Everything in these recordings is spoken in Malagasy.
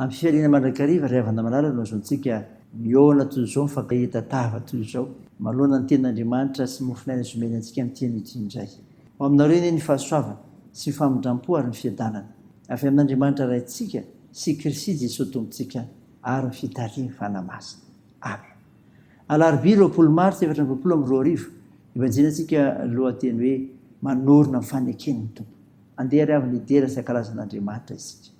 Amin'ny fifaliana mandrakariva ry havana malala no azahoantsika mihaona toy izao, mifankahita tava toy izao, manoloana ny Tenin'Andriamanitra sy ny mofon'aina izay omeny antsika amin'ity anio ity indray. Ho aminareo anie ny fahasoavana sy ny famindram-po ary ny fiadanana avy amin'Andriamanitra Raintsika sy Kristy Jesoa Tompontsika ary ny fitarihan'ny Fanahy Masina. Amena. Alarobia roapolo martsa efatra amby roapolo amby roa arivo, ivajianantsika lohateny hoe Manorina ny Faneken'ny Tompo. Andeha ry havana hidera sy hankalaza an'Andriamanitra isika.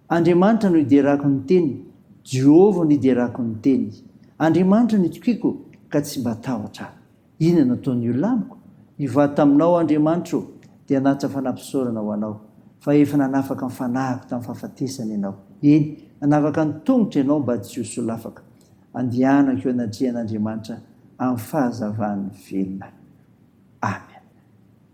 Andriamanitra no iderako ny teny, Jehova no iderako ny teny. Andriamanitra no itokiako ka tsy mba tahotra aho. Inona no ataon'ny olona amiko? Hivady taminao aho Andriamanitra ô, dia hanatitra fanampisaorana ho anao. Fa efa nanafaka ny fanahiko tamin'ny fahafatesana ianao, eny, nanavaka ny tongotro ianao mba tsy ho solafaka. Andehanako eo anatrehan'Andriamanitra amin'ny fahazavan'ny velona. Amen.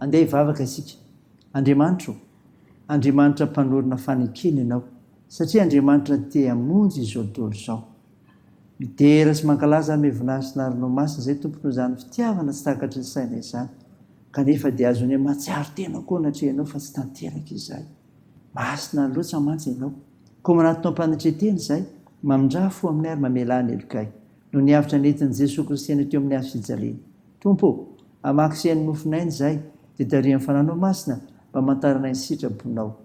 Andeha hivavaka isika. Andriamanitra ô, Andriamanitra mpanorina fanekena Ianao, satria Andriamanitra te hamonjy izao dolo izao. Midera sy mankalaza amin'ny voninahitry ny Arinao Masina izay Tompo noho izany fitiavana tsy takatry ny saina izany, kanefa dia azonay mahatsiaro tena koa anatreha Ianao fa tsy tanteraka izay. Masina loatra mantsy Ianao. Koa manatona am-panetren-tena izay, mamindrà fo aminay ary mamelà ny helokay. Noho ny havotra nentin'i Jesoa Kristy anay teo amin'ny Hazo fijaliana. Tompo ô, hamaky sehan'ny mofon'aina izahay, dia tarihan'ny Fanahinao Masina mba hamantaranay ny sitrabonao.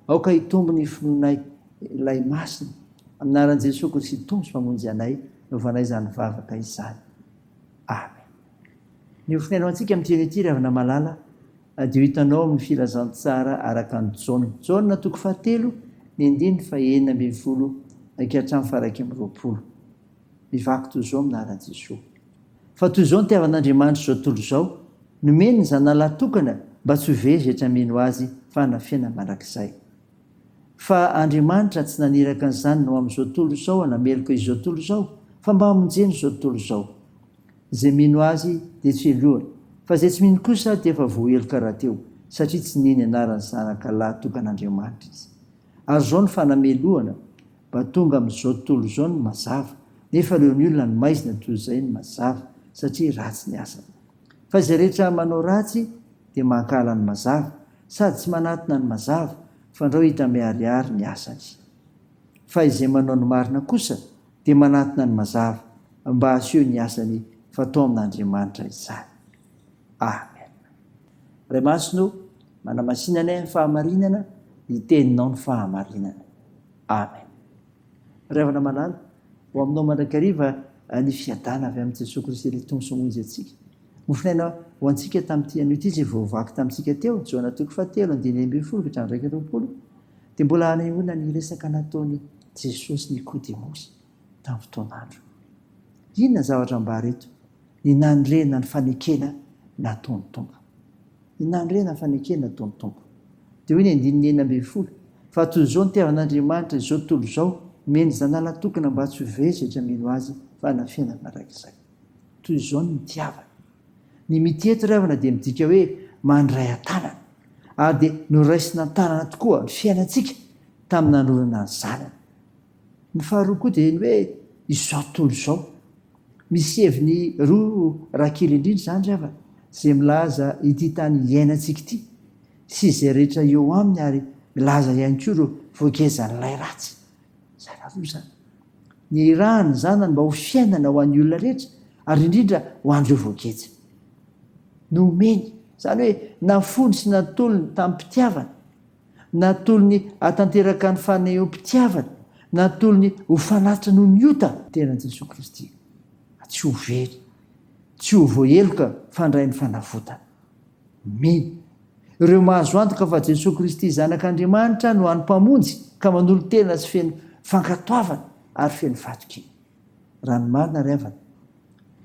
Aoka hitombo ny finoanay Ilay Masina. Amin'ny anaran'i Jesoa Kristy Tompo sy Mpamonjy anay, novanay izany vavaka izany. Amen. Ny hofihainao antsika amin'ity eny ity, ry havana malala, dia ho hitanao amin'ny Filazantsara araka an'i Jaona, Jaona toko fahatelo, ny andininy fahenina ambin'ny folo ka hatramin'ny faha iraika amby roapolo. Mivaky toy izao amin'ny anaran'i Jesoa. Fa toy izao ny itiavan'Andriamanitra izao tontolo izao, nomeny ny Zanany lahy tokana mba tsy ho vezetra mino Azy fanafihana mandrakizay. Fa Andriamanitra tsy naniraka ny Zanany ho amin'izao tontolo izao hanameloka izao tontolo izao, fa mba hamonjena izao tontolo izao. Izay mino Azy dia tsy helohany, fa izay tsy mino kosa dia efa voaheloka rahateo, satria tsy nihaino ny anaran'ny Zanaka lahy tokan'Andriamanitra izy. Ary izao no fanamelohana, Mba tonga amin'izao tontolo izao ny mazava, nefa ireo ny olona ny maizina toy izay ny mazava, satria ratsy ny asany. Fa izay rehetra manao ratsy dia mankahala ny mazava, sady tsy manatona ny mazava, fandrao hita miharihary ny asany. Fa izay manao ny marina kosa dia manatona ny mazava, mba haseho ny asany fa tao amin'Andriamanitra izany. Amen. Ray Masina o, manamasinanay amin'ny fahamarinana ny teninao ny fahamarinana. Amen. Ray Havana Malala, ho aminao mandrakariva eh, ny fiadana avy amin'i Jesoa Kristy ilay Tompo sy Monjy antsika. Mofinaina ho antsika tamin'ity anio ity izay voavaky tamintsika teo, Jaona toko fahatelo, andininy enina ambin'ny folo ka hatramin'ny iraika amby roapolo, dia mbola hanehoana ny resaka nataon'i Jesosy Nikodemosy. tamin'ny fotoan'andro. Inona ny zavatra ambara eto? Ny nanorenana ny fanekena nataon'ny Tompo. Ny nanorenana ny fanekena nataon'ny Tompo. Dia hoy ny andininy enina ambin'ny folo, Fa toy izao nitiavan'Andriamanitra izao tontolo izao, nomeny ny Zanalany tokana mba tsy ho very izay mino Azy, fa hanana fiainana mandrakizay. Toy izao no nitiavany. Ny mitia eto ry havana dia midika hoe mandray an-tanana. Ary dia noraisina an-tanana tokoa ny fiainantsika tamin'ny nanolorana ny Zanany. Ny faharoa koa dia ny hoe izao tontolo izao. Misy heviny roa raha kely indrindra izany ry havana, izay milaza ity tany iainantsika ity sy izay rehetra eo aminy ary milaza ihany koa ireo voagezan'ilay ratsy. Izany roa izany. Nihirahan'ny Zanany mba ho fiainana ho an'ny olona rehetra ary indrindra ho an'ireo voageja. Nomeny, izany hoe nafony sy natolony tamim-pitiavana. Natolony hatanteraka ny fanehom-pitiavany, natolony ho fanatitra noho ny ota. Tena an'i Jesoa Kristy, fa tsy ho very, tsy ho voaheloka fandray ny fanavotana. Min. Ireo mahazo antoka fa Jesoa Kristy Zanak'Andriamanitra no hany Mpamonjy ka manolo-tena sy feno fankatoavana ary feno fahatokiana. Raha ny marina ry havana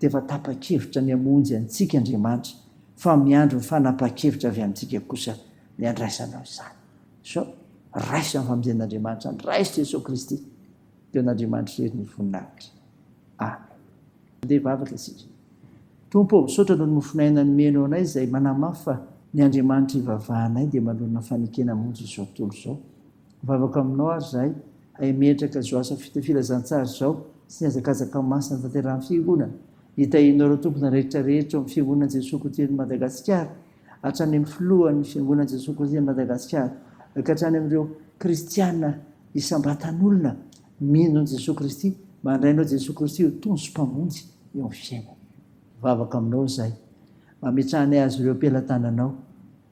dia efa tapa-kevitra ny hamonjy antsika Andriamanitra fa miandry ny fanapahan-kevitra avy amintsika kosa ny handraisanao izany. So, raiso amin'ny famonjen'Andriamanitra ny Ray sy Jesoa Kristy, dia an'Andriamanitra irery ny voninahitra. Amen. Andeha hivavaka isika. Tompo ô, misaotra noho ny mofonay aina nomenao anay izay manamafy fa ny Andriamanitra ivavahanay dia manoloana fanekena hamonjy izao tontolo izao. Mivavaka aminao ary zahay hay metraka zao asa filazantsara zao sy ny hazakazaka masina tanterahan'ny fiangonana. Itahinao ireo tompona rehetra rehetra eo amin'ny fiangonan'i Jesoa Kotian'i Madagasikara, hatrany amin'ny filohan'ny fiangonan'i Jesoa Kotian'i Madagasikara, ka hatrany amin'ireo kristiana isam-batan'olona mino an'i Jesoa Kristy, mandray anao Jesoa Kristy ho Tompo sy Mpamonjy eo amin'ny fiainany. Mivavaka aminao zahay, mba ametrahanay azy ireo am-pelatananao.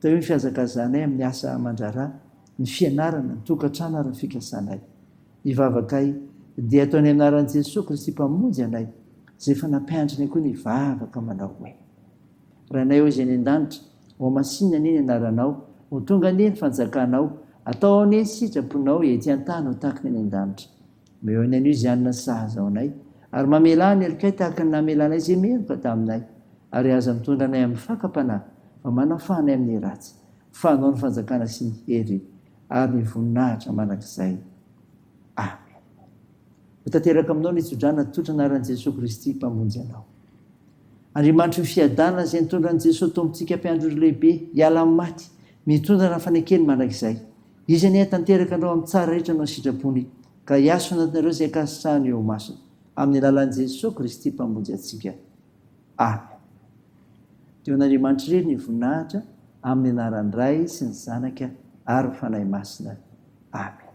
Teo ny fihazakazanay amin'ny asa aman-draharaha, ny fianarana, ny tokantrano ary ny fikasanay. Ny vavakay dia atao ny anaran'i Jesoa Kristy Mpamonjy anay, izay efa nampianatrinay koa ny vavaka manao hoe, Ranay ao izay any an-danitra, hohamasinina anie ny anaranao, ho tonga anie ny fanjakanao, atao anie ny sitraponao ety an-tany ho tahaka ny any an-danitra. Meo ny anio izany ny sahaza anay, ary mamelà ny helonkay tahaka ny namela anay izay meloka taminay, ary aza mitondra anay amin'ny fakam-panahy, fa manafaha anay amin'ny ratsy, fa anao ny fanjakana sy ny hery ary ny voninahitra mandrakizay. Amen. Ho tanteraka aminao ny tso-drano atolotra anaran'i Jesoa Kristy Mpamonjy anao. Andriamanitry ny fiadanana izay nitondran'i Jesoa Tompontsika mpiandry ora lehibe hiala amin'ny maty, mitondra ny fanekeny mandrakizay. Izy anie hatanteraka anao amin'ny tsara rehetra noho ny sitrapony, ka hiaso anatinareo izay ankasitrahany eo imasony, amin'ny alalan'i Jesoa Kristy Mpamonjy antsika. Amen. Dia ho an'Andriamanitra irery ny voninahitra, amin'ny anaran'ny Ray sy ny Zanaka ary ny Fanahy Masina. Amen.